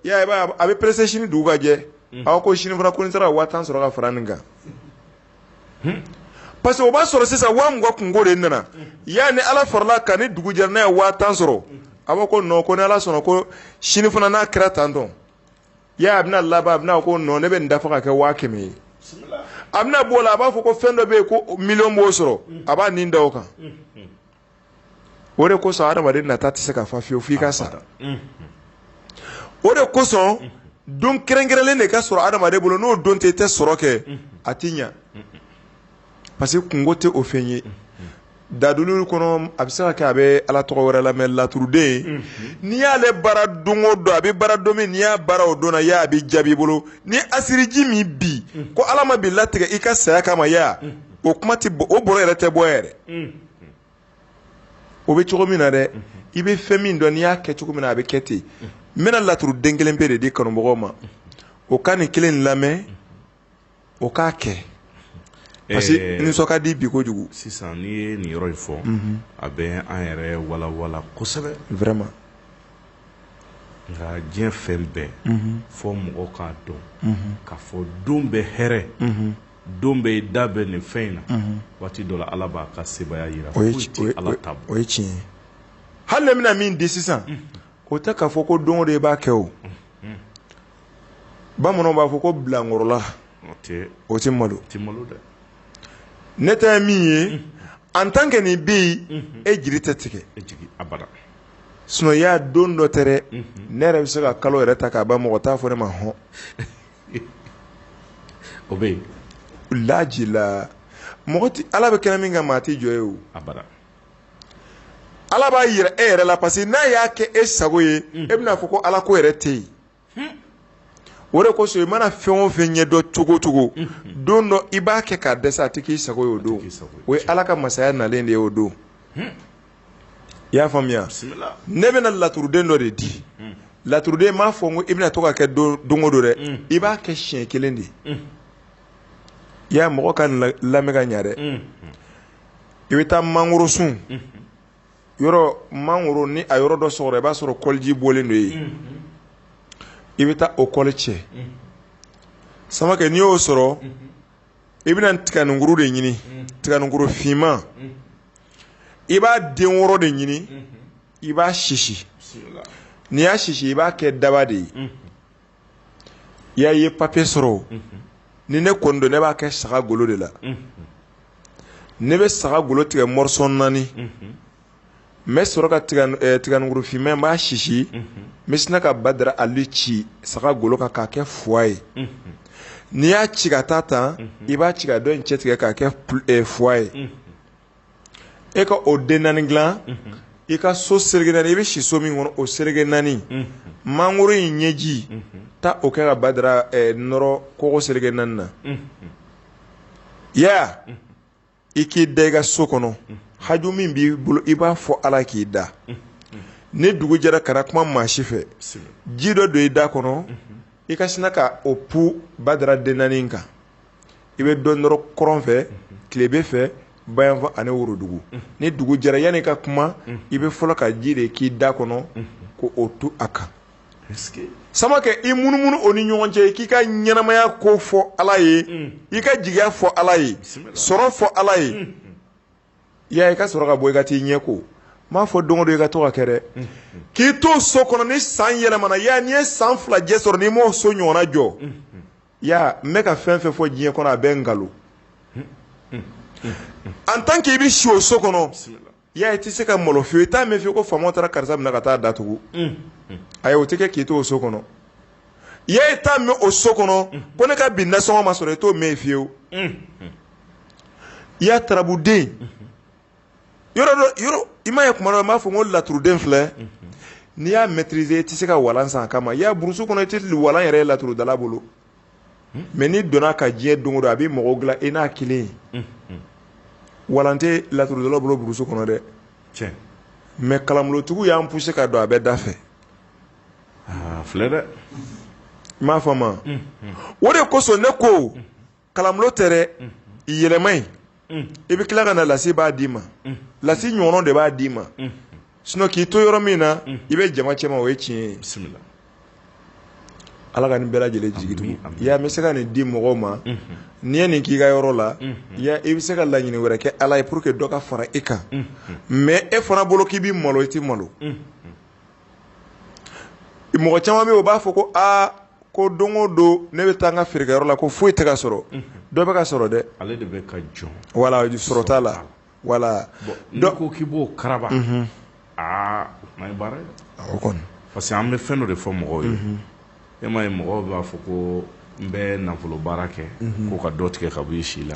I y'a ye, i b'a ye a bɛ presser sini dugu ka jɛ, unhun, aw ko sini fana ko ni n sera ka 50000 sɔrɔ ka fara nin kan, hun, parce que o b'a sɔrɔ sisan 20000 kunko de nana, yani Ala faral'a kan ni dugu jɛra n'a ye 50000 sɔrɔ, a b'a fɔ ko non ko ni Ala sɔnna ko sini fana n'a kɛra tantɔ, i y'a ye a bɛna laban a bɛna fɔ ko non ne bɛ nin dafa ka kɛ 100000 ye, a bɛna b'o la a b'a fɔ ko fɛn dɔ bɛ yen ko million b'o sɔrɔ, a b'a nin da o kan. o de kosɔn adamaden nata tɛ se ka fa fiyewu f'i ka sa o de kosɔn don kɛrɛnkɛrɛnnen de ka sɔrɔ adamaden bolo n'o don tɛ i tɛ sɔrɔ kɛ a tɛ ɲɛ parce que kunko tɛ o fɛn ye laturu kɔnɔ a bɛ se ka kɛ a bɛ ala tɔgɔ wɛrɛ la mais laturuden n'i y'ale baara don dɔn a bɛ baara don min n'i y'a baara o don na a bɛ jaabi i bolo ni asiriji min bi ko ala ma bi latigɛ i ka saya kama o kuma o bolo yɛrɛ tɛ bɔ yɛrɛ o bɛ cogo min na dɛ i bɛ fɛn min dɔn n'i y'a kɛ cogo min na a bɛ kɛ ten n bɛna laturuden kelen pe de di kanubagaw ma o ka nin kelen lamɛn o k'a kɛ parce que nisɔn ka di bi kojugu sisan n'i ye nin yɔrɔ in fɔ a bɛ an yɛrɛ walawala kosɛbɛ vraiment nka diɲɛ fɛn bɛɛ fo mɔgɔ k'a dɔn k'a fɔ don bɛɛ hɛrɛ don bɛɛ i da bɛ nin fɛn in na waati dɔ la ala b'a ka sebaaya jira foyi tɛ ala ta bɔ o ye tiɲɛ ye hali ne bɛna min di sisan o tɛ k'a fɔ ko don o don i b'a kɛ o bamananw b'a fɔ ko bilankɔrɔla o tɛ malo ne ta ye min ye en tant que nin bɛ yen e jigi tɛ tigɛ sinon i y'a dɔn dɔ tɛ dɛ ne yɛrɛ bɛ se ka kalo yɛrɛ ta k'a ban mɔgɔ t'a fɔ ne ma hɔn o bɛ yen laji la mɔgɔ tɛ ala bɛ kɛnɛ min kan maa tɛ jɔ yen o ala b'a jira e yɛrɛ la parce que n'a y'a kɛ e sago ye e bɛn'a fɔ ko ala ko yɛrɛ tɛ yen o de kosɔn i mana fɛn o fɛn ɲɛ dɔn cogo o cogo don dɔ i b'a kɛ k'a dɛsɛ a tɛ k'i sago ye o don o ye ala ka masaya nalen de ye o don i y'a faamuya ne bɛna laturuden dɔ de di laturuden m'a fɔ ko i bɛna to ka kɛ don o don dɛ i b'a kɛ siɲɛ kelen de ye i y'a mɔgɔ k'a lamɛn ka ɲɛ dɛ i bɛ taa mangorosun yɔrɔ mangoro ni a yɔrɔ dɔ sɔgɔra i b'a sɔrɔ kɔliji bɔlen don yen i bɛ taa o kɔli cɛ samakɛ n'i y'o sɔrɔ i bɛna tiganinkuru de ɲini tiganinkuru finman i b'a den wɔɔrɔ de ɲini i b'a sisi n'i y'a sisi i b'a kɛ daba de ye i y'a ye papier sɔrɔ ni ne kɔni don ne b'a kɛ saga golo de la ne bɛ saga golo tigɛ morceau naani n bɛ sɔrɔ ka tiganinkuru finman n b'a sisi n bɛ sina ka badara ali ci saga golo kan k'a kɛ fois ye n'i y'a ci ka taa tan i b'a ci ka dɔ in cɛ tigɛ k'a kɛ fois ye e ka o den naani dilan i ka so serege naani i bɛ si so min kɔnɔ o serege naani mangolo in ɲɛji taa o kɛ ka badara nɔrɔ kogo serege naani na ya i k'i da i ka so kɔnɔ haju min b'i bolo i b'a fɔ ala k'i da ni dugu jɛra kana kuma maa si fɛ ji dɔ don i da kɔnɔ i ka sina ka o pu badara den naani kan i bɛ dɔ nɔrɔ kɔrɔn fɛ tilebin fɛ bayanfan ani worodugu ni dugu jɛra yanni i ka kuma i bɛ fɔlɔ ka ji de k'i da kɔnɔ ko o tu a kan sama kɛ i munumunu o ni ɲɔgɔn cɛ k'i ka ɲɛnamaya ko fɔ ala ye mm. i ka jigiya fɔ ala ye sɔrɔ fɔ ala ye mm. ya i ka sɔrɔ ka bɔ i ka t'i ɲɛ ko n m'a fɔ don o don i ka to k'a kɛ dɛ k'i to so kɔnɔ ni san yɛlɛmana ya n'i ye san fila jɛ sɔrɔ n'i m'o so ɲɔgɔnna jɔ ya n bɛ ka fɛn fɛn fɔ diɲɛ kɔnɔ a bɛɛ nkalon en tant que i bɛ si o so kɔnɔ I y'a ye i tɛ se ka malo fyewu, i t'a mɛn fyewu ko faama taara karisa minɛ ka taa datugu, unhun, ayi o tɛ kɛ k'i to o so kɔnɔ, i y'a ye i t'a mɛn o so kɔnɔ ko ne ka bi nasɔngɔ ma sɔrɔ, i t'o mɛn yen fyewu, unhun, i y'a tarabuden, yɔrɔ dɔ, yɔrɔ, i m'a ye kuma dɔ n b'a fɔ ko laturuden filɛ, n'i y'a maitriser i tɛ se ka walan san a kama, i y'a ye brousse kɔnɔ i tɛ walan yɛrɛ ye laturudala bolo mais n'i donna ka diɲɛ don o don a bɛ mɔgɔw dilan i n'a kelen ye walan tɛ laturudala bolo brousse kɔnɔ dɛ mais kalanbolotigiw y'an pousser ka don a bɛ da fɛ filɛ dɛ i m'a faamu o de kosɔn ne ko kalanbolo tɛ dɛ yɛlɛma in i bɛ tila ka na lasi b'a d'i ma lasi ɲɔgɔnna de b'a d'i ma sinon k'i to yɔrɔ min na i bɛ jama cɛ ma o ye tiɲɛ ye ala ka nin bɛɛ lajɛlen jigi tugu ya n bɛ se ka nin di mɔgɔw ma n'i ye nin k'i ka yɔrɔ la i bɛ se ka laɲini wɛrɛ kɛ ala ye pour que dɔ ka fara i kan mais e fana bolo k'i bɛ malo i tɛ malo mɔgɔ caman bɛ yen u b'a fɔ ko aa ko don o don ne bɛ taa n ka feerekɛyɔrɔ la ko foyi tɛ ka sɔrɔ dɔ bɛ ka sɔrɔ dɛ ale de bɛ ka jɔn voilà sɔrɔ t'a la voilà dɔ ko k'i b'o karaba aa ma baara o kɔni parce que an bɛ fɛn dɔ de fɔ mɔgɔw ye e m'a ye mɔgɔw b'a fɔ ko n bɛ nafolo baara kɛ ko ka dɔ tigɛ ka b'i si la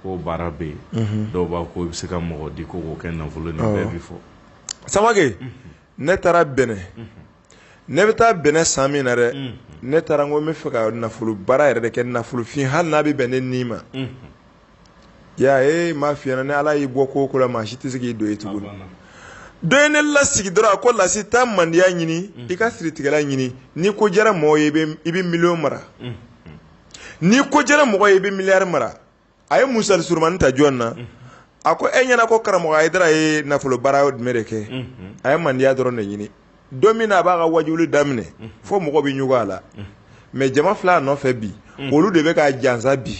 ko baara bɛ yen dɔw b'a ko i bɛ se ka mɔgɔ di ko k'o kɛ nafolo bɛ fɔ samake ne taara bɛnɛ ne bɛ taa bɛnɛ san min na dɛ ne taara ko n b'a fɛ ka nafolo baara yɛrɛ de kɛ nafolofin hali n'a bɛ bɛn ne ni ma ya e ma fi ni ala y'i bɔ ko o ko la maa si tɛ se k'i don yen tugun dɔ ye ne lasigi dɔrɔn a ko lasi taa mandiya ɲini i ka siritigɛla ɲini n'i ko diyara mɔgɔ ye i bɛ miliyɔn mara N'i ko diyara mɔgɔ ye i bɛ miliyari mara a ye musali surumani ta jɔn na a ko e ɲɛna ko karamɔgɔ ayidara ye nafolo baara jumɛn de kɛ a ye mandiya dɔrɔn de ɲini don min na a b'a ka wajuli daminɛ fo mɔgɔ bɛ ɲugun a la mɛ jama filɛ a nɔfɛ bi olu de bɛ ka jansa bi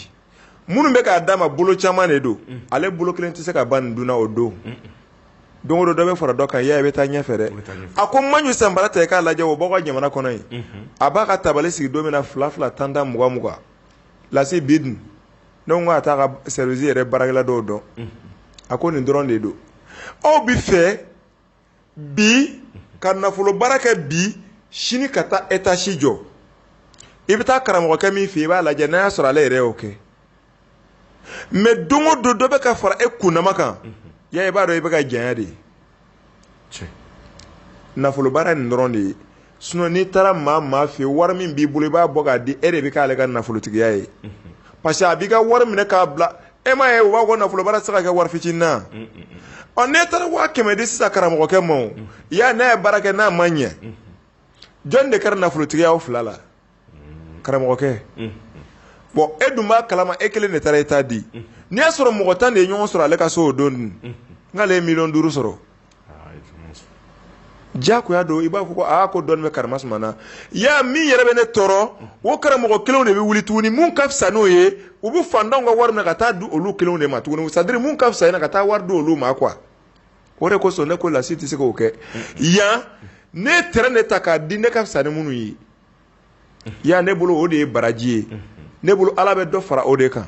minnu bɛ k'a d'a ma bolo caman de don ale bolo kelen tɛ se ka ban nin dun na o don don dɔ bɛ fara dɔ kan ya i bɛ taa ɲɛfɛ dɛ a ko maɲu sanbara ta i k'a lajɛ o b'aw ka jamana kɔnɔ yen a b'a ka tabali sigi don min na fila fila tan tan mugan mugan lasi bi dun a t'a ka sɛriwisi yɛrɛ baarakɛla dɔw dɔn a ko nin dɔrɔn de don aw b'a fɛ bi ka nafolo baara kɛ bi sini ka taa etazi jɔ i bɛ taa karamɔgɔkɛ min fɛ i b'a lajɛ n'a y'a sɔrɔ ale yɛrɛ y'o kɛ mɛ don o don dɔ bɛ ka fara e kunnama kan ya i b'a dɔn i bɛ ka janya de nafolo baara nin dɔrɔn de ye sinon n'i taara maa maa fɛ wari min b'i bolo i b'a bɔ k'a di e de bɛ k'ale ka nafolotigiya ye parce que a b'i ka wari minɛ k'a bila e m'a ye u b'a fɔ ko nafolo baara tɛ se ka kɛ wari fitinin na n'e taara waa kɛmɛ di sisan karamɔgɔkɛ ma ya n'a ye baara kɛ n'a ma ɲɛ jɔn de kɛra nafolotigi ye aw fila la karamɔgɔkɛ bon e dun b'a kalama e kelen de taara e ta di n'i y'a sɔrɔ mɔgɔ tan de ye ɲɔgɔn sɔrɔ ale ka so o don dun n'ale ye miliyɔn duuru sɔrɔ jagoya don i b'a fɔ ko aa ko dɔɔni bɛ kara na i y'a min yɛrɛ bɛ ne tɔɔrɔ o karamɔgɔ kelenw de bɛ wuli tuguni min ka fisa n'o ye u bɛ fantanw ka wari minɛ ka taa di olu kelenw de ma tuguni c'est à dire min ka fisa na ka taa wari di olu ma quoi o de kosɔn ne ko lasi tɛ se k'o kɛ yan ne t ne ta k'a di ne ka fisa ni minnu ye ya ne bolo o de ye baraji ye ne bolo ala bɛ dɔ fara o de kan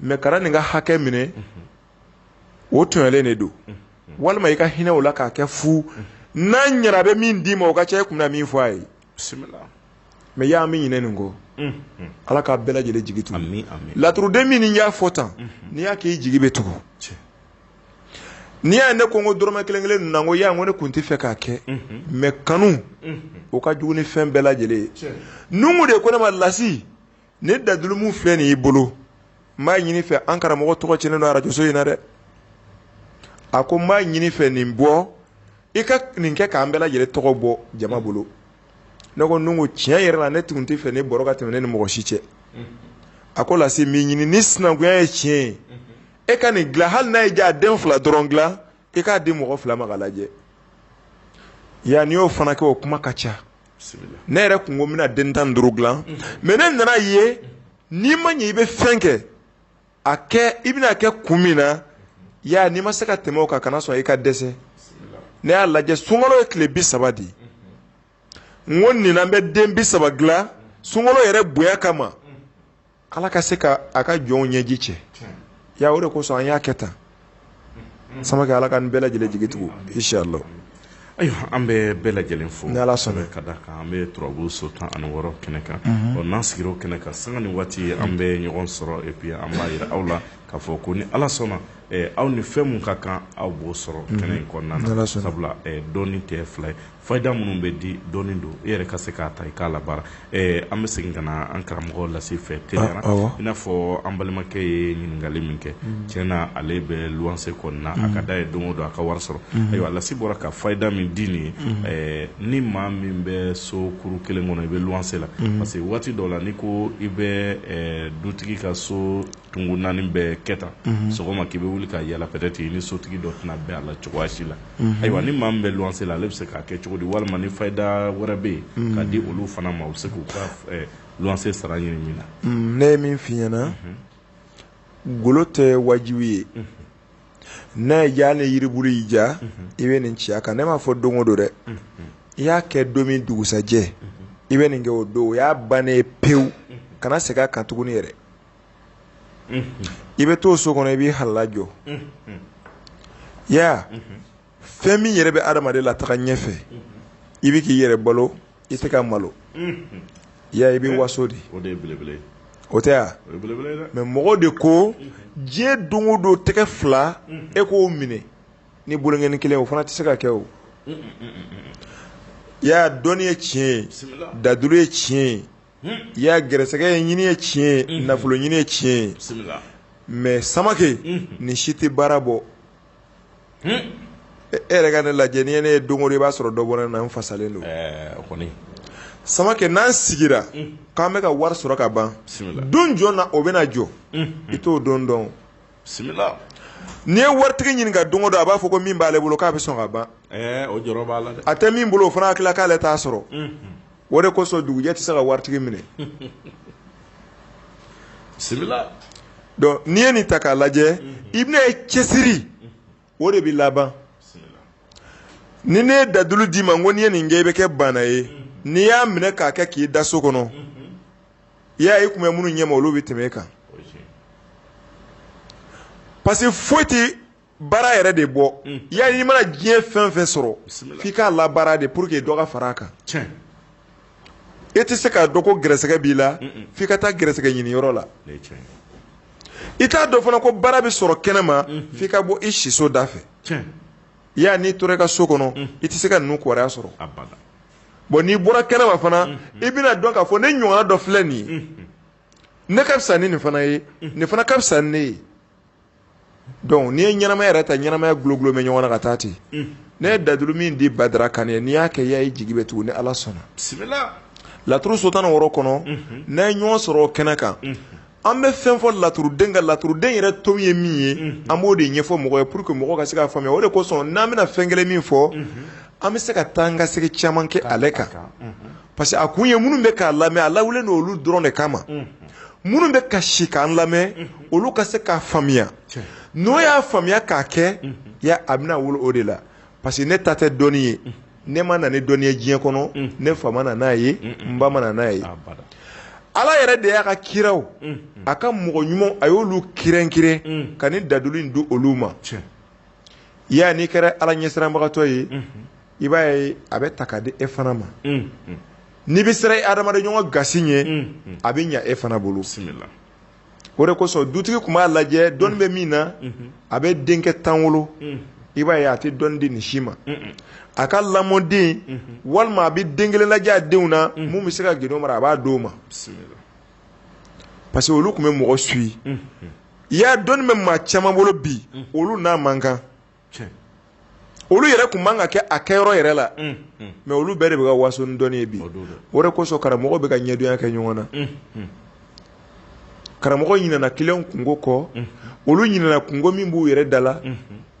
mɛ kana nin ka hakɛ minɛ o tɔɲɔlen de don walima i ka hinɛ o la k'a kɛ fu n'a ɲɛna a bɛ min d'i ma o ka ca e kun na min fɔ a ye mɛ y'an bɛ ɲinɛ nin kɔ ala k'an bɛɛ lajɛlen jigi tugu laturuden min n'i y'a fɔ tan n'i y'a k'i jigi bɛ tugu n'i y'a ye ne ko n ko dɔrɔmɛ kelen kelen ninnu na n ko y'a ye n ko ne tun tɛ fɛ k'a kɛ mais kanu o ka jugu ni fɛn bɛɛ lajɛlen ye Numu de ko ne ma Lasi nin dalilu min filɛ nin y'i bolo n b'a ɲini fɛ an karamɔgɔ tɔgɔ cɛnnen don arajoso in na dɛ a ko n b'a ɲini fɛ nin bɔ i ka nin kɛ k'an bɛɛ lajɛlen tɔgɔ bɔ jama bolo ne ko Numu tiɲɛ yɛrɛ la ne tun tɛ fɛ ne bɔrɔ ka tɛmɛ ne ni mɔgɔ si cɛ a ko Lasi n b'i ɲini ni sinankunya ye tiɲɛ ye e ka nin dilan hali n'a y'i diya den fila dɔrɔn dilan i k'a di mɔgɔ fila ma k'a lajɛ ya n'i y'o fana kɛ o kuma ka ca ne yɛrɛ kun ko n bɛna den tan ni duuru dilan mais ne nan'a ye n'i ma ɲɛ i bɛ fɛn kɛ a kɛ i bɛna kɛ kun min na ya n'i ma se ka tɛmɛ o kan kana sɔn i ka dɛsɛ ne y'a lajɛ sunkalo ye tile bi saba di n ko nin na n bɛ den bi saba dilan sunkalo yɛrɛ bonya kama ala ka se ka a ka jɔnw ɲɛji cɛ ya o de kosɔn an y'a kɛ tan Samake ala k'an bɛɛ lajɛlen jigi tugu inshallah ayiwa an bɛ bɛɛ lajɛlen fo ni ala sɔnna ka da kan an bɛ turabu so tan ani wɔɔrɔ kɛnɛ kan ɔ n'an sigira o kɛnɛ kan sanga ni waati an bɛ ɲɔgɔn sɔrɔ et puis an b'a jira aw la k'a fɔ ko ni ala sɔnna aw ni fɛn min ka kan aw b'o sɔrɔ kɛnɛ in kɔnɔna sabula dɔnni tɛ fila ye Fayida minnu bɛ di dɔnni don e yɛrɛ ka se k'a ta i k'a labaara an bɛ segin ka na an karamɔgɔ Lasi fɛ teliya la i n'a fɔ an balimakɛ ye ɲininkali min kɛ tiɲɛ na ale bɛ luwanse kɔnɔna a ka da ye don o don a ka wari sɔrɔ ayiwa Lasi bɔra ka fayida min di nin ye ni maa min bɛ so kuru kelen kɔnɔ i bɛ luwanse la parce que waati dɔ la n'i ko i bɛ dutigi ka so tunkun naani bɛɛ kɛta sɔgɔma k'i bɛ wuli ka yaala peut-être i ni sotigi dɔ tɛna bɛn a la cogoya si la ayiwa ni maa min bɛ luwanse la ale bɛ se k'a kɛ cogo di walima ni fayida wɛrɛ bɛ yen ka di olu fana ma u bɛ se k'u ka luwanse sara ɲini min na ne ye min f'i ɲɛna golo tɛ wajibi ye n'a y'i ja ni yiribulu y'i ja i bɛ nin ci a kan ne m'a fɔ don o don dɛ i y'a kɛ don min dugusajɛ i bɛ nin kɛ o don o y'a bannen ye pewu kana segin a kan tuguni yɛrɛ i bɛ to so kɔnɔ i b'i halala jɔ ya fɛn min yɛrɛ bɛ adamaden lataga ɲɛfɛ i bɛ k'i yɛrɛ balo i tɛ ka malo ya i bɛ waso de o tɛ mais mɔgɔ de ko diɲɛ don o don tɛgɛ fila e k'o minɛ ni bolonkɔni kelen o fana tɛ se ka kɛ o ya dɔnni ye tiɲɛ ye dalilu ye tiɲɛ ye i y'a garisɛgɛ ye ɲini ye tiɲɛ ye nafolo ɲini ye tiɲɛ ye mais samakɛ nin si tɛ baara bɔ e yɛrɛ ka ne lajɛ ni ne ye don o don i b'a sɔrɔ dɔ bɔra ne na n fasalen don samakɛ n'an sigira k'an bɛ ka wari sɔrɔ ka ban don jɔn na o bɛna jɔ i t'o don dɔn n'i ye waritigi ɲininka don o don a b'a fɔ ko min b'ale bolo k'a bɛ sɔn ka ban o jɔrɔ b'a la dɛ a tɛ min bolo o fana hakili k'ale t'a sɔrɔ o de kosɔn dugujɛ tɛ se ka waritigi minɛ bisimila donc n'i ye nin ta k'a lajɛ i bɛna ye cɛsiri o de bɛ laban ni ne ye dadulu d'i ma n ko n'i ye nin kɛ i bɛ kɛ baana ye n'i y'a minɛ k'a kɛ k'i da so kɔnɔ i y'a ye i tun bɛ minnu ɲɛma olu bɛ tɛmɛ e kan parce que foyi tɛ baara yɛrɛ de bɔ ya n'i mana diɲɛ fɛn fɛn sɔrɔ f'i k'a labaara de pour que dɔ ka fara a kan e tɛ se k'a dɔn ko gɛrɛsɛgɛ b'i la f'i ka taa gɛrɛsɛgɛ ɲini yɔrɔ la i t'a dɔn fana ko baara bɛ sɔrɔ kɛnɛ ma f'i ka bɔ i siso da fɛ i y'a n'i tora i ka so kɔnɔ i tɛ se ka ninnu kibaruya sɔrɔ bon n'i bɔra kɛnɛ ma fana i bɛna dɔn k'a fɔ ne ɲɔgɔnna dɔ filɛ nin ye ne ka fisa ni nin fana ye nin fana ka fisa ni ne ye Donc n'i ye ɲɛnamaya yɛrɛ ta ɲɛnamaya gulogulo bɛ ɲɔgɔn na ka taa ten ne ye dadulu min di badara kane ye n'i y'a kɛ ya i jigi bɛ tugu ni ala sɔnna laturu so tan wɔɔrɔ kɔnɔ n'an ye ɲɔgɔn sɔrɔ o kɛnɛ kan an bɛ fɛn fɔ laturuden ka laturuden yɛrɛ to ye min ye an b'o de ɲɛfɔ mɔgɔ ye pour que mɔgɔ ka se k'a faamuya o de kosɔn n'an bɛna fɛn kelen min fɔ an bɛ se ka taa an ka segin caman kɛ ale kan parce que a kun ye minnu bɛ k'a lamɛn a lawulen don olu dɔrɔn de kama minnu bɛ ka si k'an lamɛn olu ka se k'a faamuya n'o y'a faamuya k'a kɛ ya a bɛna wolo o de la parce que ne ta tɛ dɔnni ye ne ma na ni dɔnni ye diɲɛ kɔnɔ ne fa ma na n'a ye n ba ma na n'a ye ala yɛrɛ de y'a ka kiraw a ka mɔgɔ ɲumanw a y'olu kɛrɛnkɛrɛn ka nin dadulu in di olu ma Ya n'i kɛra ala ɲɛsiranbagatɔ ye i b'a ye a b'a ta k'a di e fana ma n'i bɛ siran i hadamaden ɲɔgɔn gasi ɲɛ a bɛ ɲɛ e fana bolo o de kosɔn dutigi tun b'a lajɛ dɔnni bɛ min na a bɛ denkɛ tan wolo i b'a ye a tɛ dɔnni di nin si ma a ka lamɔden walima a bɛ den kelen lajɛ a denw na min bɛ se ka gindo mara a b'a d'o ma parce que olu tun bɛ mɔgɔ su ye i y'a dɔnni bɛ maa caman bolo bi olu n'a man kan olu yɛrɛ tun man ka kɛ a kɛ yɔrɔ yɛrɛ la mais olu bɛɛ de bɛ ka waso ni dɔnni ye bi o de kosɔn karamɔgɔw bɛ ka ɲɛdonya kɛ ɲɔgɔn na karamɔgɔ ɲinɛna kiliyanw kunko kɔ olu ɲinɛna kunko min b'u yɛrɛ da la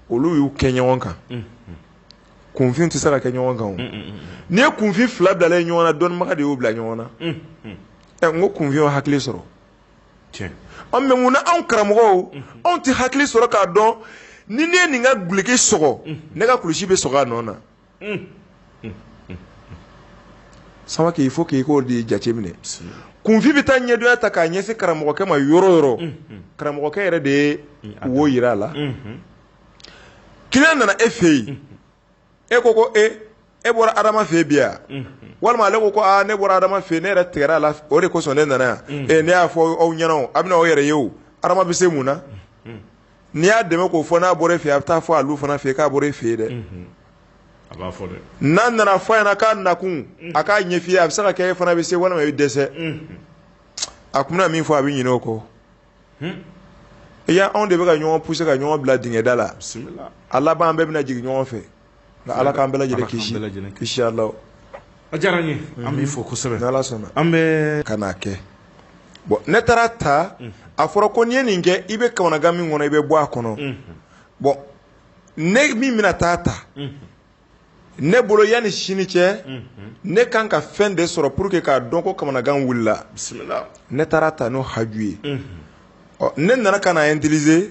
olu y'u kɛ ɲɔgɔn kan kunfin tɛ se ka kɛ ɲɔgɔn kan n'i ye kunfin fila bila ɲɔgɔn na dɔnnibaga de y'u bila ɲɔgɔn na n ko kunfin y'o hakili sɔrɔ mais mun na anw karamɔgɔw anw tɛ hakili sɔrɔ k'a dɔn ni ne ye nin ka duloki sɔgɔ ne ka kulusi bɛ sɔgɔ a nɔ na samakɛ il faut qu'i k'o de jate minɛ kunfin bɛ taa ɲɛdonya ta k'a ɲɛsin karamɔgɔkɛ ma yɔrɔ o yɔrɔ karamɔgɔkɛ yɛrɛ de ye wo jira a la kiliyan nana e fɛ yen e ko ko e e bɔra adama fɛ bi yan walima ale ko ko ne bɔra adama fɛ ne yɛrɛ tigɛra a la o de kosɔn ne nana yan ne y'a fɔ aw ɲɛna a bɛ aw yɛrɛ ye o adama bɛ se mun na n'i y'a dɛmɛ k'o fɔ n'a bɔra e fɛ a bɛ taa fɔ a fana fɛ k'a bɔra e fɛ dɛ n'a nana fɔ ɲɛna k'a nakun a k'a ɲɛf'i ye a bɛ se ka kɛ e fana bɛ se walima i dɛsɛ a tun min fɔ a bɛ ɲinɛ o kɔ i y'a anw de bɛ ka ɲɔgɔn pousser ka ɲɔgɔn bila dingɛ da la a laban an bɛɛ bɛna jigin ɲɔgɔn fɛ nka ala k'an bɛɛ lajɛlen kisi lajɛlen kisi a la a diyara an ye an b'i fo kosɛbɛ n'ala sɔnna an bɛ ka kɛ bon ne taara a ta a fɔra ko n'i ye nin kɛ i bɛ kamanagan min kɔnɔ i bɛ bɔ a kɔnɔ bon ne min bɛna taa ta ne bolo yanni sini cɛ ne kan ka fɛn de sɔrɔ pour que k'a dɔn ko kamanagan wulila bisimila ne taara ta n'o haju ye ɔ ne nana ka na utiliser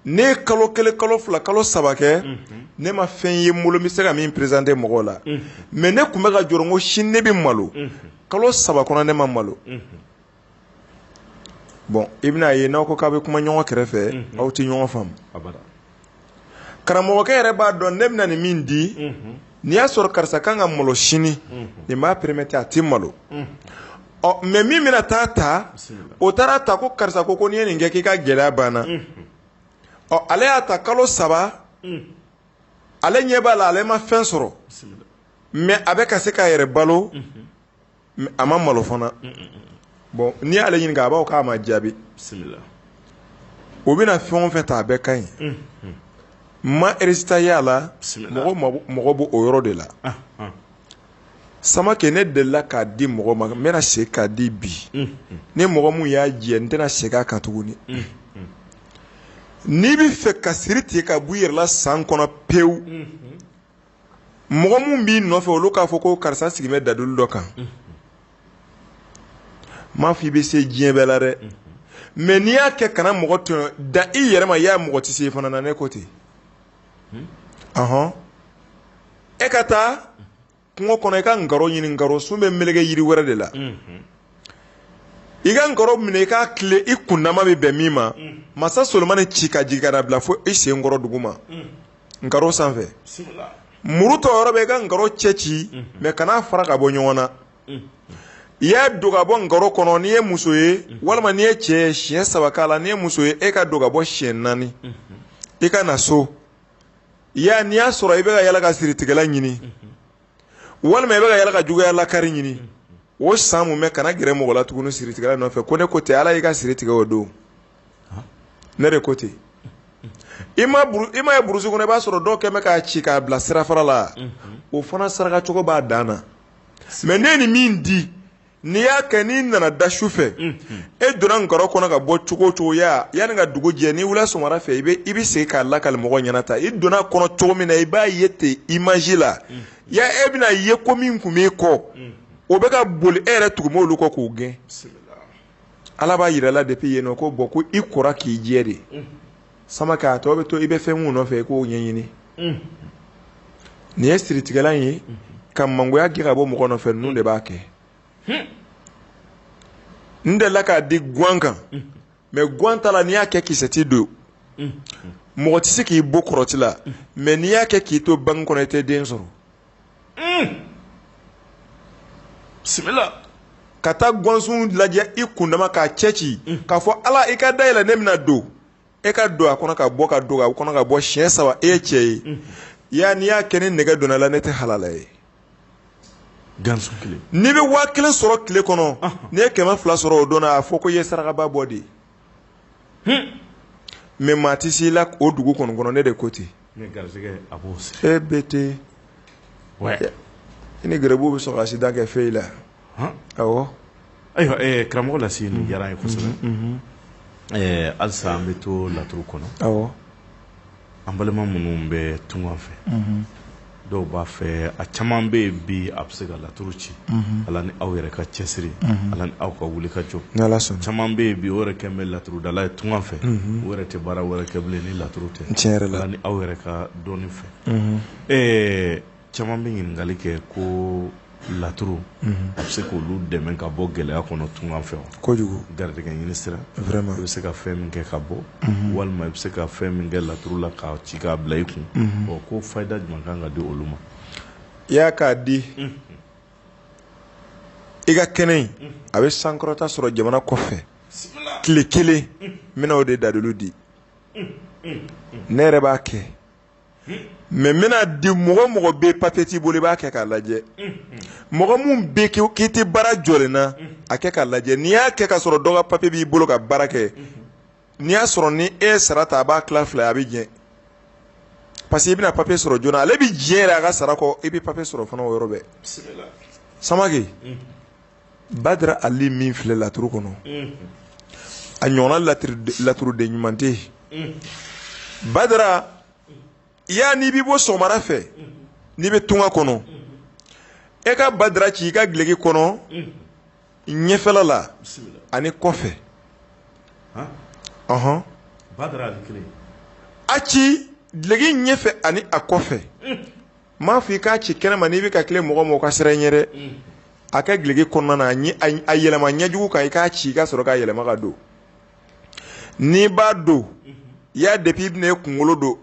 ne ye kalo kelen kalo fila kalo saba kɛ ne ma fɛn ye n bolo n bɛ se ka min présenter mɔgɔw la mais ne tun bɛ ka jɔrɔ n ko sini ne bɛ malo kalo saba kɔnɔ ne ma malo bon i bɛna ye n'aw ko k'aw bɛ kuma ɲɔgɔn kɛrɛfɛ aw tɛ ɲɔgɔn faamu karamɔgɔkɛ yɛrɛ b'a dɔn ne bɛna nin min di n'i y'a sɔrɔ karisa kan ka malo sini nin b'a permettre a tɛ malo ɔ mais min bɛna taa ta o taara a ta ko karisa ko ko n'i ye nin kɛ k'i ka gɛlɛya banna ɔ ale y'a ta kalo saba ale ɲɛ b'a la ale ma fɛn sɔrɔ mais a bɛ ka se k'a yɛrɛ balo a ma malo fana bon n'i y'ale ɲininka a b'a fɔ k'a ma jaabi o bɛna fɛn o fɛn ta a bɛɛ ka ɲi ma résultat y'a la mɔgɔ b'o yɔrɔ de la samakɛ ne delila k'a di mɔgɔ ma n bɛna se k'a di bi ni mɔgɔ min y'a jɛ n tɛna segin a kan tuguni n'i bɛ fɛ ka siri tigɛ ka bɔ i yɛrɛ la san kɔnɔ pewu mɔgɔ minnu b'i nɔfɛ olu k'a fɔ ko karisa sigi bɛ dadulu dɔ kan n m'a fɔ i bɛ se diɲɛ bɛɛ la dɛ mais n'i y'a kɛ kana mɔgɔ tɔɲɔ dan i yɛrɛ ma i y'a mɔgɔ tɛ se fana na ne ko ten ahɔn e ka taa kungo kɔnɔ i ka nkaro ɲini nkaro sun bɛ meleke yiri wɛrɛ de la i ka nkaro minɛ i k'a tilen i kundama bɛ bɛn min ma mansa solonmani ci ka jigin ka na bila fo i sen kɔrɔ dugu ma nkaro sanfɛ muru tɔ yɔrɔ bɛ i ka nkaro cɛ ci mais kana fara ka bɔ ɲɔgɔn na i y'a don ka bɔ nkaro kɔnɔ n'i ye muso ye walima n'i ye cɛ ye siɲɛ saba k'a la n'i ye muso ye e ka don ka bɔ siɲɛ naani i ka na so i y'a n'i y'a sɔrɔ i bɛ ka yala ka siritigɛla ɲini walima i bɛ ka yala ka juguya lakari ɲini o san mun bɛ kana gɛrɛ mɔgɔ la tuguni siritigɛla nɔfɛ ko ne ko ten ala y'i ka siri tigɛ o don ne de ko ten i ma ye burusi kɔnɔ i b'a sɔrɔ dɔw kɛn bɛ k'a ci k'a bila sirafara la o fana sarakacogo b'a dan na mais ne ni min di N'i y'a kɛ n'i nana da su fɛ e donna nkaro kɔnɔ ka bɔ cogo o cogo yanni ka dugu jɛ n'i wulila sɔgɔmada fɛ i bɛ segin k'a lakali mɔgɔ ɲɛna ta i donna kɔnɔ cogo min na i b'a ye ten image la ya e bɛna a ye ko min tun b'i kɔ o bɛ ka boli e yɛrɛ tugu b'olu kɔ k'o gɛn ala b'a jira i la depuis yen nɔ ko bon ko i kora k'i jɛ de samakɛ a tɔ bɛ to i bɛ fɛn mun nɔfɛ i k'o ɲɛɲini nin ye siritigɛlan ye ka mangoya gɛn ka bɔ mɔgɔ nɔfɛ ninnu de b'a kɛ n delila k'a di gan kan mais gan ta la n'i y'a kɛ kisɛti don mɔgɔ tɛ se k'i bon kɔrɔti la mais n'i y'a kɛ k'i to bange kɔnɔ i tɛ den sɔrɔ bisimila ka taa gansun lajɛ i kundama k'a cɛ ci k'a fɔ ala i ka da yɛlɛ ne bɛna don e ka don a kɔnɔ ka bɔ ka don a kɔnɔ ka bɔ siɲɛ saba e ye cɛ ye ya n'i y'a kɛ ni nɛgɛ donna i la ne tɛ halala ye n'i bɛ waa kelen sɔrɔ tile kɔnɔ n'i ye kɛmɛ fila sɔrɔ o don na a fɔ ko i ye sarakaba bɔ de mais maa tɛ se i la o dugu kɔnɔ kɔnɔ ne de ko ten e bɛ ten i ni gɛrɛbu bɛ sɔn ka accident kɛ fɛn i la ayiwa ayiwa karamɔgɔ la sigi diyara n ye kosɛbɛ halisa an bɛ to laturu kɔnɔ An balima minnu bɛ tunga fɛ dɔw b'a fɛ a caman bɛ yen bi a bɛ se ka laturu ci ala ni aw yɛrɛ ka cɛsiri ala ni aw ka wuli ka jɔ caman bɛ yen bi o yɛrɛ kɛn bɛ laturudala ye tunga fɛ o yɛrɛ tɛ baara wɛrɛ kɛ bilen ni laturu tɛ ala ni aw yɛrɛ ka dɔnni fɛ ɛɛ Caman bɛ ɲininkali kɛ ko laturu a bɛ se k' olu dɛmɛ ka bɔ gɛlɛya kɔnɔ tunga fɛ kojugu garijɛgɛ ɲini sira ma i bɛ se ka fɛn min kɛ ka bɔ walima i bɛ se ka fɛn min kɛ laturu la k'a ci k'a bila i kun ɔ ko fayida jumɛn kan ka di olu ma i y'a k'a di i ka kɛnɛ in a bɛ sankɔrɔta sɔrɔ jamana kɔfɛ tile kelen n bɛna o de dalilu di ne yɛrɛ b'a kɛ mais n bɛna di mɔgɔ mɔgɔ bɛ papiye t'i bolo i b'a kɛ k'a lajɛ mɔgɔ min bɛ k'i tɛ baara jɔlen na a kɛ k'a lajɛ n'i y'a kɛ ka sɔrɔ dɔ ka papiye b'i bolo ka baara kɛ n'i y'a sɔrɔ ni e ye sara ta a b'a tila fila ye a bɛ diɲɛ parce que i bɛna papiye sɔrɔ joona ale bɛ diɲɛ yɛrɛ a ka sara kɔ i bɛ papiye sɔrɔ fana o yɔrɔ bɛɛ sama badara ali min filɛ laturu kɔnɔ a ɲɔgɔnna laturuden ɲuman tɛ yen badara ya n'i bɛ bɔ sɔgɔmada fɛ n'i bɛ tunga kɔnɔ e ka badara ci i ka gileki kɔnɔ ɲɛfɛla la ani kɔfɛ ɔnhɔn a ci gileki ɲɛfɛ ani a kɔfɛ m'a fɔ i k'a ci kɛnɛ ma n'i bɛ ka tile mɔgɔ ma o ka siran ɲɛ dɛ a kɛ gileki kɔnɔna na a yɛlɛma ɲɛjugu kan i k'a ci i ka sɔrɔ k'a yɛlɛma k'a don n'i b'a don ya depuis i bɛna e kunkolo don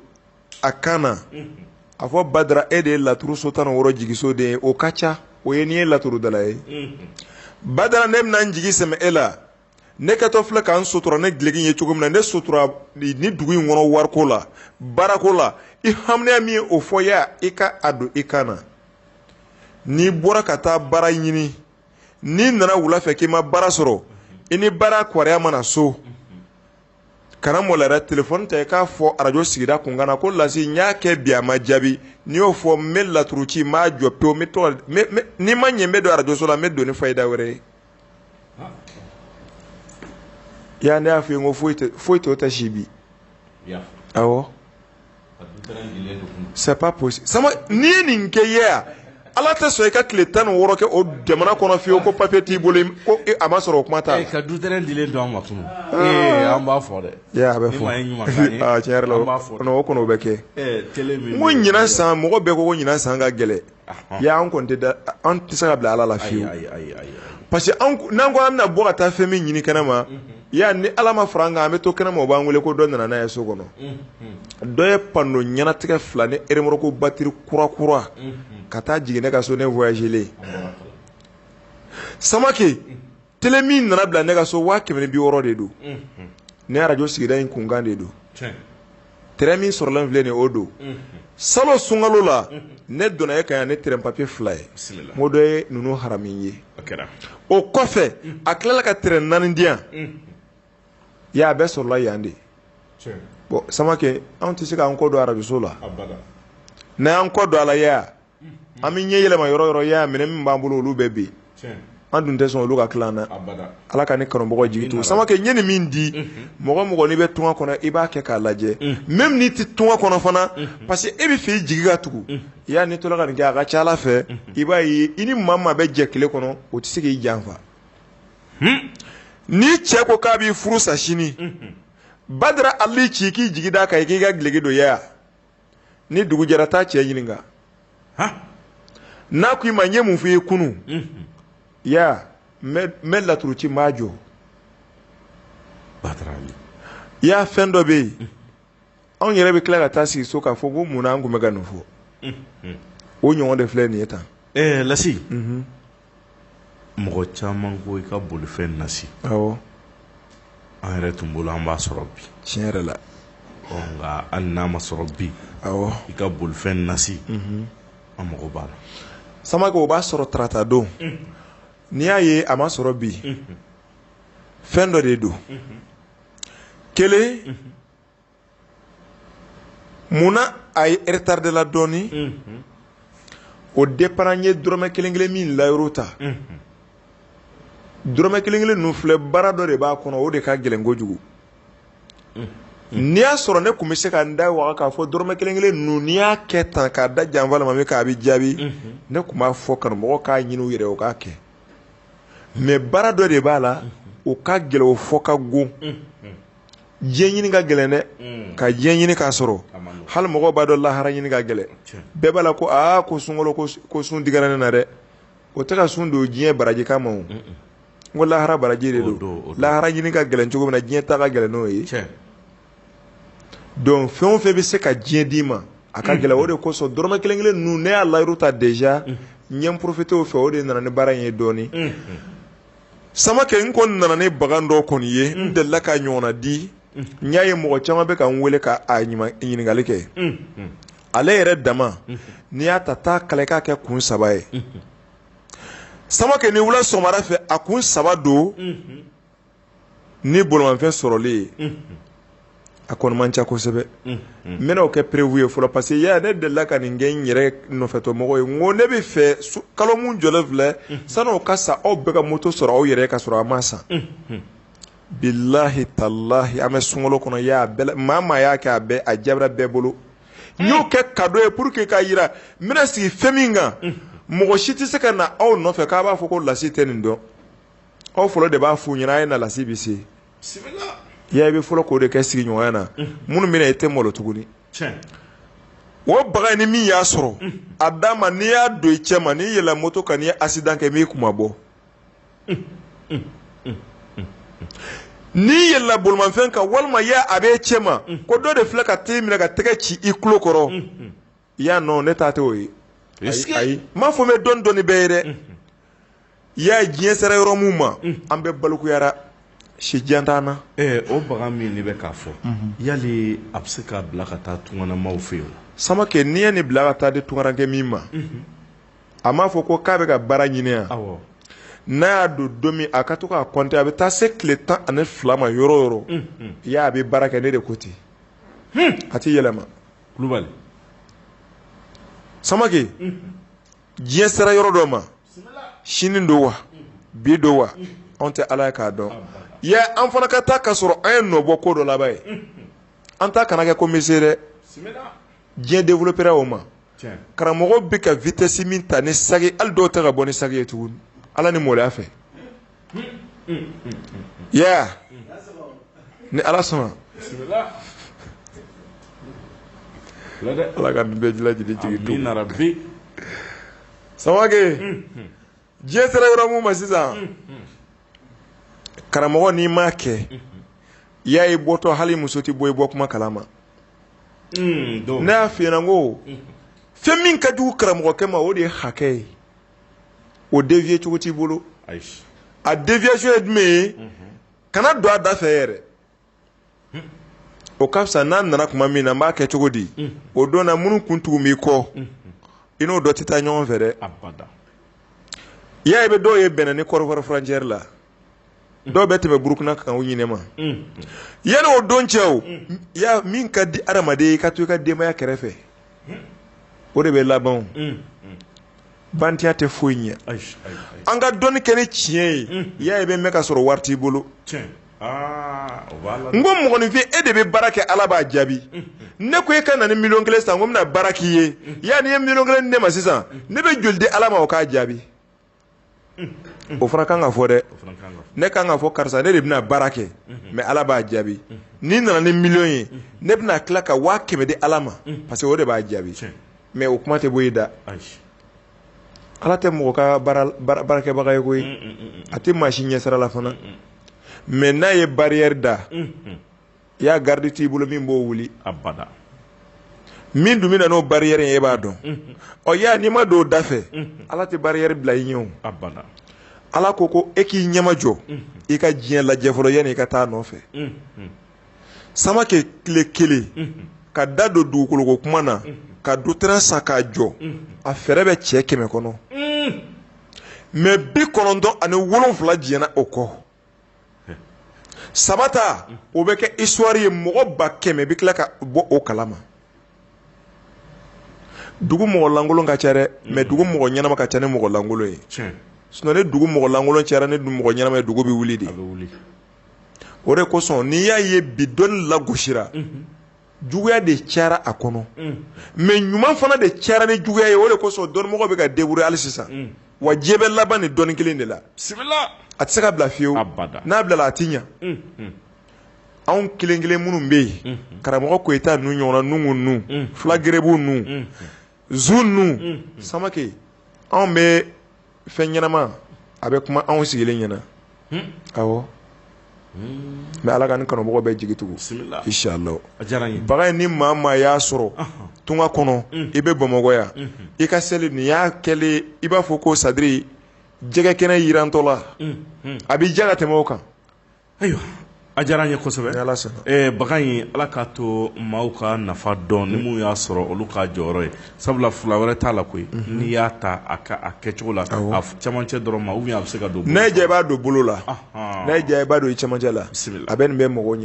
a kan na a fɔ badara e de ye laturu so tan ni wɔɔrɔ jigisoden ye o ka ca o ye n'i ye laturudala ye badara ne bɛna n jigi sɛmɛ e la ne kɛtɔ filɛ ka n sutura ni gileki ye cogo min na ne sutura ni dugu in kɔnɔ wariko la baarako la i hamiya min ye o fɔ ya i ka a don i kan na n'i bɔra ka taa baara ɲini n'i nana wula fɛ k'i ma baara sɔrɔ i ni baara kɔrɔya mana so kana malo yɛrɛ telefɔni ta i k'a fɔ arajo sigida kunkan na ko lasi n y'a kɛ bi a ma jaabi n'i y'o fɔ n bɛ laturu ci n b'a jɔ pewu n'i ma ɲɛ n bɛ don arajoso la n bɛ don ni fayida wɛrɛ ye Yan ne y'a fɔ i ye n ko foyi foyi t'o tɛ si bi awɔ c'est pas possible sama n'i ye nin kɛ ya ala tɛ sɔn i ka tile tan ni wɔɔrɔ kɛ o jamana kɔnɔ fiyewu ko papiye t'i bolo a ma sɔrɔ o kuma t'a la ka du dɔn ma tun an b'a fɔ dɛ a bɛ fɔ o bɛ kɛ ko ɲinan san mɔgɔ bɛɛ ko ɲinan san ka gɛlɛn ya an kɔni tɛ an tɛ se ka bila ala la fiyewu parce que n'an ko an bɛna bɔ ka taa fɛn min ɲini kɛnɛ ma ya ni ala ma fara an kan an bɛ to kɛnɛ ma o b'an wele ko dɔ nana n'a ye so kɔnɔ dɔ ye pando ɲɛnatigɛ fila ni eremoroko batiri kurakura ka taa jigin ne ka so ne voyagelen samakɛ Tele min nana bila ne ka so waa kɛmɛ ni bi wɔɔrɔ de don ne arajo sigida in kunkan de don terrain min sɔrɔlen filɛ nin ye o don salon sunkalo la ne donna e kan yan ne terrain papiye fila ye o dɔ ye ninnu harami ye o kɔfɛ a tilala ka terrain naani di yan a bɛɛ sɔrɔla yan de bon samakɛ anw tɛ se k'an kɔ don arajoso la n'an kɔ don alaya an bɛ ɲɛ yɛlɛma yɔrɔ yɔrɔ y'a minɛ min b'an bolo olu bɛɛ bɛ yen an dun tɛ sɔn olu ka tila an na ala ka ne kanumɔgɔ jigi to samakɛ n ye nin min di mɔgɔ mɔgɔ n'i bɛ tunga kɔnɔ i b'a kɛ k'a lajɛ même n'i tɛ tunga kɔnɔ fana parce que e bɛ fɛ i jigi ka tugu i y'a ni toraga ka nin kɛ a ka ca ala fɛ i b'a ye i ni maa o maa bɛ jɛ kelen kɔnɔ o tɛ se k'i janfa ni cɛ ko k'a b'i furu sa sini badara ali ci k'i jigi d'a kan i k'i ka gki dɔ ni dugu jɛra taa cɛ ɲininka n'a ko i ma n ye mun f'i ye kunun ya n bɛ laturu ci n b'a jɔ i y'a fɛn dɔ bɛ yen anw yɛrɛ bɛ tila ka taa sigi so k'a fɔ ko mun na an tun bɛ ka nin fɔ o ɲɔgɔn de filɛ nin ye tan lasi mɔgɔ caman ko i ka bolifɛn nasi awɔ an yɛrɛ tun bolo an b'a sɔrɔ bi tiɲɛ yɛrɛ la ɔ nka hali n'a ma sɔrɔ bi awɔ i ka bolifɛn nasi mhm. an mago b'a la samake o b'a sɔrɔ tarata don mhm. n'i y'a ye a ma sɔrɔ bi mhm. fɛn dɔ de don kelen munna a ye retard de la dɔɔni o dépend n ye dɔrɔmɛ kelen kelen min layiru ta dɔrɔmɛ kelen kelen ninnu filɛ baara dɔ de b'a kɔnɔ o de ka gɛlɛn kojugu n'i y'a sɔrɔ ne tun bɛ se ka n da waga k'a fɔ dɔrɔmɛ kelen kelen ninnu n'i y'a kɛ tan k'a da janfa ma min k'a bɛ jaabi ne tun b'a fɔ kanumɔgɔ k'a ɲini u yɛrɛ o k'a kɛ mais baara dɔ de b'a la o ka gɛlɛn o fɔ ka g diɲɛ ɲini ka gɛlɛn dɛ mm. ka diɲɛ ɲini k'a sɔrɔ hali mɔgɔw b'a dɔn lahara ɲini ka gɛlɛn bɛɛ b'a la ko aa ko sunkalo ko sun digira ne na dɛ o tɛ ka sun don diɲɛ baraji kama o n ko lahara baraji de don lahara ɲini ka gɛlɛn cogo min na diɲɛ ta ka gɛlɛn n'o ye donc fɛn o fɛn bɛ se ka diɲɛ d'i ma a ka gɛlɛn o de kosɔn dɔrɔmɛ kelen kelen ninnu ne y'a layiru ta déjà n ye n profité o fɛ o de nana ni baara in ye dɔɔnin samakɛ n kɔni nana ni bagan dɔ kɔni ye n delila ka ɲɔgɔnna di n y'a ye mɔgɔ caman bɛ ka n weele k'a ɲininkali kɛ ale yɛrɛ dama n'i y'a ta taa kala k'a kɛ kun saba ye samakɛ ni wula sɔgɔmada fɛ a kun saba don ni bolimafɛn sɔrɔli ye a kɔni man ca kosɛbɛ n bɛna kɛ preuve ye fɔlɔ parce que ya ne delila ka nin kɛ n yɛrɛ nɔfɛtɔmɔgɔ ye n ko ne bɛ fɛ kalo min jɔlen filɛ sani o ka sa aw bɛɛ ka moto sɔrɔ aw yɛrɛ ka sɔrɔ a ma san bilahi talahi an bɛ sunkalo kɔnɔ maa maa y'a kɛ a bɛɛ a jaabira bɛɛ bolo n y'o kɛ cadeau ye pour que k'a jira n bɛna sigi fɛn min kan mɔgɔ si tɛ se ka na aw nɔfɛ k'a b'a fɔ ko lasi tɛ nin dɔn aw fɔlɔ de b'a f'u ɲɛna a ye na lasi bɛ se ya i bɛ fɔlɔ k'o de kɛ sigiɲɔgɔnya na minnu bɛna e tɛ malo tuguni o bagan ni min y'a sɔrɔ a d'a ma n'i y'a don i cɛ ma n'i yɛlɛla moto kan n'i ye accident kɛ min b'i kunmabɔ n'i yɛlɛla bolimafɛn kan walima a bɛ e cɛ ma ko dɔ de filɛ ka t'e minɛ ka tɛgɛ ci i tulo kɔrɔ i y'a nɔ ne ta tɛ o ye ayi n m'a fɔ n bɛ dɔn dɔnni bɛɛ ye dɛ i y'a diɲɛ sera yɔrɔ min ma an bɛ baloko yaala si jan t'an na o bagan min de bɛ k'a fɔ yala a bɛ se k'a bila ka taa tunganamaw fɛ yen samake n'i ye nin bila ka taa di tungarankɛ min ma a m'a fɔ ko k'a bɛ ka baara ɲini yan n'a y'a don don min a ka to k'a compter a bɛ taa se tile tan ani fila ma yɔrɔ o yɔrɔ i y'a a bɛ baara kɛ ne de ko ten a tɛ yɛlɛma kulubali samake diɲɛ sera yɔrɔ dɔ ma sini don wa bi don wa anw tɛ ala ye k'a dɔn yɛ an fana ka taa ka sɔrɔ an ye nɔbɔ ko dɔ laban ye an ta kana kɛ commencer dɛ diɲɛ developera o ma karamɔgɔ bɛ ka vitesse min ta ni sagi hali dɔw tɛ ka bɔ ni sagi ye tuguni ala ni maloya fɛ yeah ni ala sɔnna ala ka bɛɛ lajɛlen jigi tugu samake diɲɛ sera yɔrɔ min ma sisan karamɔgɔ n'i m'a kɛ i y'a ye i bɔtɔ hali i muso tɛ bɔ i bɔ kuma kalama ne y'a f'i ɲɛna n ko fɛn min ka jugu karamɔgɔkɛ ma o de ye hakɛ ye o devier cogo t'i bolo a deviation ye jumɛn ye kana don a da fɛ yɛrɛ o ka fisa n'a nana kuma min na n b'a kɛ cogo di o don na minnu kun tugu b'i kɔ i n'o dɔ tɛ taa ɲɔgɔn fɛ dɛ i y'a ye i bɛ dɔw ye bɛnna ni kɔdiwari frontiere la dɔw bɛ tɛmɛ burukina kan u ɲinɛ ma yanni o don cɛ o ya min ka di adamaden ye i ka to i ka denbaya kɛrɛfɛ o de bɛ laban o. bandiya tɛ foyi ɲɛ ayi ayi ayi an ka dɔnni kɛ ni tiɲɛ ye i y'a ye i bɛ mɛn ka sɔrɔ wari t'i bolo tiɲɛ aa o b'a la n ko mɔgɔninfin e de bɛ baara kɛ ala b'a jaabi ne ko e ka na ni miliyɔn kelen sanko n bɛna baara k'i ye yanni i ye miliyɔn kelen di ne ma sisan ne bɛ joli di ala ma o k'a jaabi o fana kan ka fɔ dɛ ne kan k'a fɔ karisa ne de bɛna baara kɛ mais ala b'a jaabi n'i nana ni miliyɔn ye ne bɛna tila ka waa kɛmɛ di ala ma parce que o de b'a jaabi mais o kuma tɛ bɔ i da ala tɛ mɔgɔ ka baarakɛbaga ye koyi a tɛ maa si ɲɛsira la fana mais n'a ye barriere da i y'a garidi t'i bolo min b'o wuli abada min dun bɛ na n'o barrière ye e b'a dɔn ɔ y'a n'i ma don o da fɛ ala tɛ barrière bila i ɲɛ o abada ala ko ko e k'i ɲɛma jɔ i ka diɲɛ lajɛ fɔlɔ yanni i ka taa a nɔfɛ samakɛ tile kelen ka da don dugukoloko kuma na ka du tɛrɛn san k'a jɔ a fɛɛrɛ bɛ cɛ kɛmɛ kɔnɔ mɛ bi kɔnɔntɔn ani wolonfila diɲɛna o kɔ saba ta o bɛ kɛ histoire ye mɔgɔ ba kɛmɛ bɛ tila ka bɔ o kalama dugu mɔgɔlankolon ka ca dɛ mɛ dugu mɔgɔ ɲɛnama ka ca ni mɔgɔlankolon ye sinon ni dugu mɔgɔlankolon cayara ni mɔgɔ ɲɛnama ye dugu bɛ wuli de o de kosɔn n'i y'a ye bi dɔnni lagosira juguya de cayara a kɔnɔ mɛ ɲuman fana de cayara ni juguya ye o de kosɔn dɔnnimɔgɔw bɛ ka débrouiller hali sisan wa diɲɛ bɛ laban ni dɔnni kelen de la a tɛ se ka bila fiyewu n'a bilala a tɛ ɲɛ anw kelen kelen minnu bɛ yen karamɔgɔ koyita ninnu ɲɔgɔnna nuhu ninnu fula gɛrɛbugu ninnu zu ninnu samakɛ anw bɛ fɛn ɲɛnama a bɛ kuma anw sigilen ɲɛna hmm? awɔ hmm. mɛ ala ka ni kanumɔgɔw bɛɛ jigi tugu inshallah baga ni maa maa y'a sɔrɔ tunga kɔnɔ hmm. i bɛ bamakɔ yan i ka seli nin y'a kɛlen i b'a fɔ ko sadiri jɛgɛ kɛnɛ jirantɔ la a bɛ diya ka tɛmɛ o kan Ayiwa a diyara n ye kosɛbɛ bagan in ala k'a to maaw k'a nafa dɔn ni minnu y'a sɔrɔ olu k'a jɔyɔrɔ ye sabula fila wɛrɛ t'a la koyi n'i y'a ta a kɛcogo la camancɛ dɔrɔn ma ou bien a bɛ se ka don n'a y'i diya i b'a don bolo la n'a y'i diya i b'a don i camancɛ la a bɛ nin bɛ mɔgɔw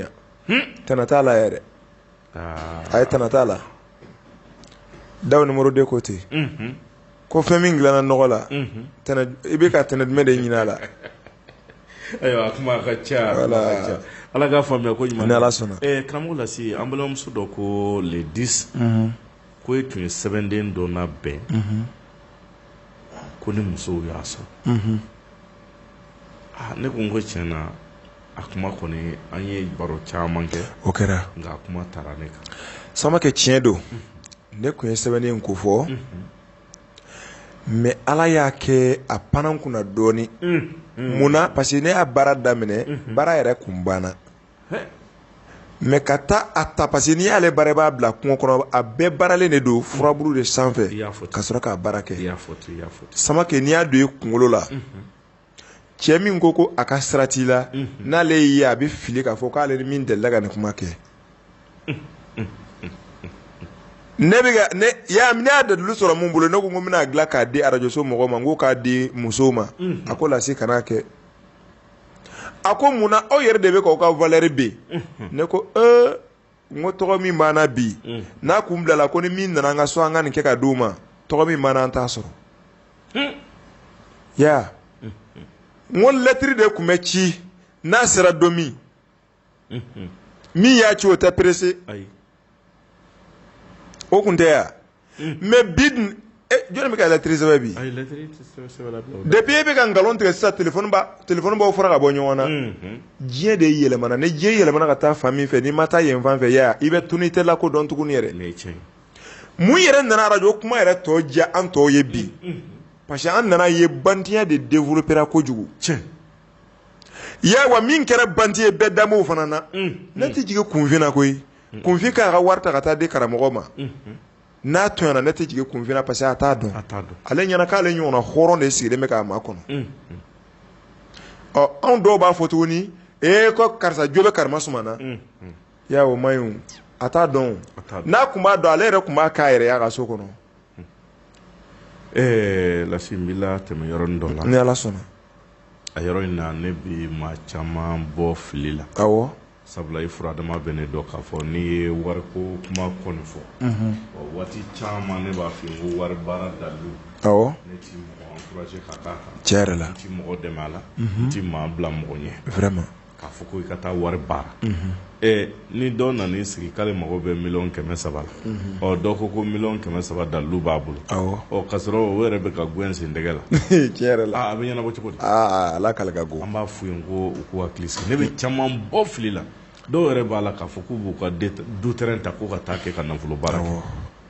ɲɛ tana t'a la yɛrɛ a ye tana t'a la daw numéro deux ko ten ko fɛn min dilanna nɔgɔ la i bɛ ka tɛnɛ jumɛn de ɲini a la ayiwa ka ca ala k'a faamuya koɲuman ni ala sɔnna karamɔgɔ lasi an balimamuso dɔ ko le dix ko e tun ye sɛbɛnden dɔ labɛn ko ni musow y'a sɔrɔ ne ko n ko tiɲɛna a kuma kɔni an ye baro caman kɛ o kɛra nka kuma taara ne kan samakɛ tiɲɛ don ne tun ye sɛbɛn in kofɔ mɛ ala y'a kɛ a panna n kunna dɔɔnin munna parce que ne y'a baara daminɛ baara yɛrɛ kun banna mɛ ka taa a ta parce que n'i y'ale baara i b'a bila kungo kɔnɔ a bɛɛ baaralen de don furaburu de sanfɛ ka sɔrɔ k'a baara kɛ samakɛ n'i y'a don i kunkolo la cɛ min ko ko a ka sira t'i la n'ale y'i ye a bɛ fili k'a fɔ k'ale ni min delila ka nin kuma kɛ ne bɛ ka ne y'a ne y'a dalilu sɔrɔ min bolo ne ko n ko n bɛn'a dilan k'a di arajoso mɔgɔw ma n ko k'a di musow ma a ko Lasi kan'a kɛ a ko mun na aw yɛrɛ de bɛ k'aw ka valeur ben ne ko ee n ko tɔgɔ min b'an na bi mm. n'a kun bilala ko ni min nana an ka so an ka nin kɛ ka di u ma tɔgɔ min b'an na an t'a sɔrɔ hmm. ya hmm. n ko lɛtiri de kun bɛ ci n'a sera don min hmm. min y'a ci o tɛ pressé o kun tɛ ya mais bi jɔn bɛ ka lɛtiri sɛbɛn bi depuis e bɛ ka nkalon tigɛ sisan téléphone b'aw fara ka bɔ ɲɔgɔn na diɲɛ de yɛlɛmana ni diɲɛ yɛlɛmana ka taa fan min fɛ n'i ma taa yen fan fɛ yan i bɛ tunu i tɛ lakodɔn tugun yɛrɛ mun yɛrɛ nana arajo kuma yɛrɛ tɔ diya an tɔw ye bi parce que an nana ye bantiya de développera kojugu cɛ ya wa min kɛra banti ye bɛɛ daw fana na ne tɛ jigin kunfin na koyi kunfin k'a ka wari ta ka taa di karamɔgɔ ma n'a tɔɲɔna ne tɛ jigin kunfin na parce que a t'a dɔn ale ɲɛna k'ale ɲɔgɔnna hɔrɔn de sigilen bɛ k'a makɔnɔ ɔ anw dɔw b'a fɔ tuguni e ko karisa jo bɛ kara na y ya o man ɲi a t'a dɔn n'a kun b'a dɔn ale yɛrɛ kun b'a k'a yɛrɛ ye a ka so kɔnɔ ɛɛ Lasi n bɛ tɛmɛ yɔrɔ dɔ la ni ala sɔnna a yɔrɔ in na ne bɛ maa caman bɔ fili la sabula i fura dama bɛ ne dɔn k'a fɔ n'i ye wari ko kuma kɔni fɔ waati caman ne b'a fɔ n ko wari baara dalilu ne tɛ mɔgɔ encourager ka d'a kan tiɲɛ yɛrɛ la n tɛ mɔgɔ dɛmɛ a la n tɛ maa bila mɔgɔ ɲɛ vraiment k'a fɔ ko i ka taa wari baara ɛ ni dɔ nan'i sigi k'ale mago bɛ miliyɔn kɛmɛ saba la mhm. ɔ dɔ ko ko miliyɔn kɛmɛ saba dalilu b'a bolo ɔ ka sɔrɔ o yɛrɛ bɛ ka gɛn sen tɛgɛ la tiɲɛ yɛrɛ la a bɛ ɲɛnabɔ cogo di ala k'ale ka go an b'a f'u ye ko u k'u hakili sigi ne bɛ caman bɔ fili la dɔw yɛrɛ b'a la k'a fɔ k'u b'u ka du terrain ta k'u ka taa kɛ ka nafolo baara kɛ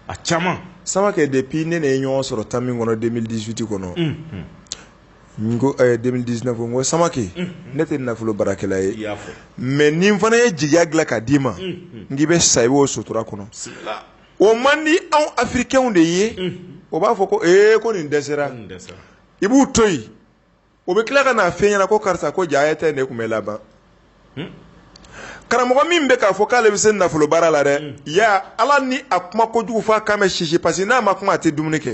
a caman Samakɛ depuis ne n'e ye ɲɔgɔn sɔrɔ temps min kɔnɔ 2018 kɔnɔ n ko ɛɛ 2019 n ko Samakɛ ne tɛ nafolo baarakɛla ye i y'a fɔ mais ni n fana ye jigiya dilan ka d'i ma n k'i bɛ sa i b'o sutura kɔnɔ bisimila o man di anw afirikɛnw de ye o b'a fɔ ko ee ko ni n dɛsɛra n dɛsɛra i b'u to yen o bɛ tila ka n'a f'i ɲɛna ko karisa ko jaa tɛ ne kun bɛ laban karamɔgɔ min bɛ k'a fɔ k'ale bɛ se nafolo baara la dɛ ya ala ni a kuma kojugu f'a kan bɛ sisi parce que n'a ma kuma a tɛ dumuni kɛ